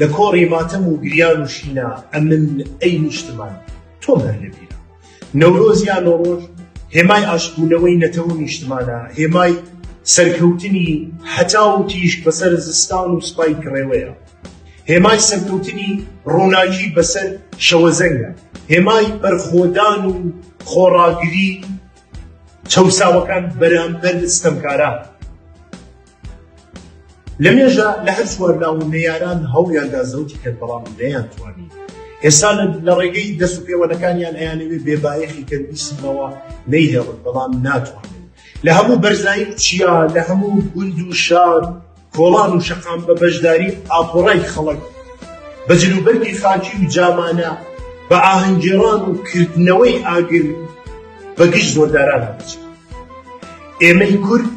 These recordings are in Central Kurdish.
لە کۆڕی ماتەم و گریان و شینا ئەمن ئەی نیشتمان تۆم هەر لەبیرە نەورۆز یا نۆڕۆژ هێمای ئاشبوونەوەی نەتەوە نیشتمانە هێمای سەرکەوتنی هەتا و تیشک بەسەر زستان و سوپای کڕێوەیە هێمای سەرکەوتنی ڕووناکی بەسەر شەوەزەنگە هێمای بەرخۆدان و خۆڕاگری چەساوەکان بەرامبەر ستەمکاران لەمێژە لە هەر چوار لاو نەیاران هەوڵیاندا زەوتی کرد بەڵام دەیان توانی ئێستا لە ڕێگەی دەست و پێوەەکانیان ئەیانەوێ بێبایەخی کرد بیسمەوە نەیهێڵن بەڵام ناتوان لە هەموو بەرزایی چیا لە هەموو گوند و شار کۆڵان و شەقام بە بەشداری ئاپۆڕای خەڵک بە جلوبەرگی خاکی و جامانە بە ئاهنگێڕان و کردنەوەی ئاگر بە گشت زۆرداران بچێت ئێمەی کورد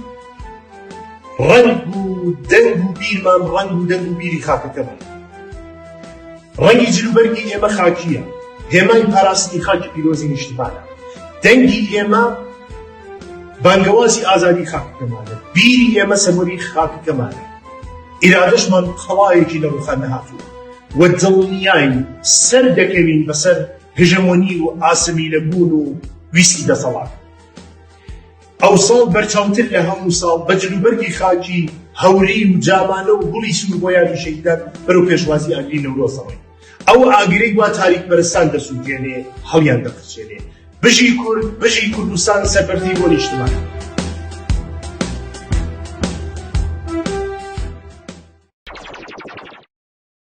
ڕەنگ و دەنگ و بیرمان ڕەنگ و دەنگ و بیری خاکەکەمان ڕەنگی جلوبەرگی ئێمە خاکییە هێمای پاراستی خاکی پیرۆزی نیشتمانە دەنگی ئێمە بانگەوازی ئازادی خاکەکەمانە بیری ئێمە سەمەری خاکەکەمانە ئیرادەشمان قەڵایەکی لە ڕوخان نەهاتووە و دڵنیایی سەر دەکەوین بەسەر هژەمۆنی و ئاسمی لەبوون و ویستی دەسەڵات ئەوساڵ بەرچاوتر لە هەموو ساڵ بە جلوبەرگی خاکی هەوری و جامانە و گوڵی سوور بۆ یادی شەهیدان بەرەو پێشوازی ئاگری نەورۆز دەڕۆین ئەو ئاگرەی وا تاریک پەرستان دەسووتێنێ هەڵیان دەقچێنێ بژی کورد بژی کوردستان سەربەرزی بۆ نیشتمان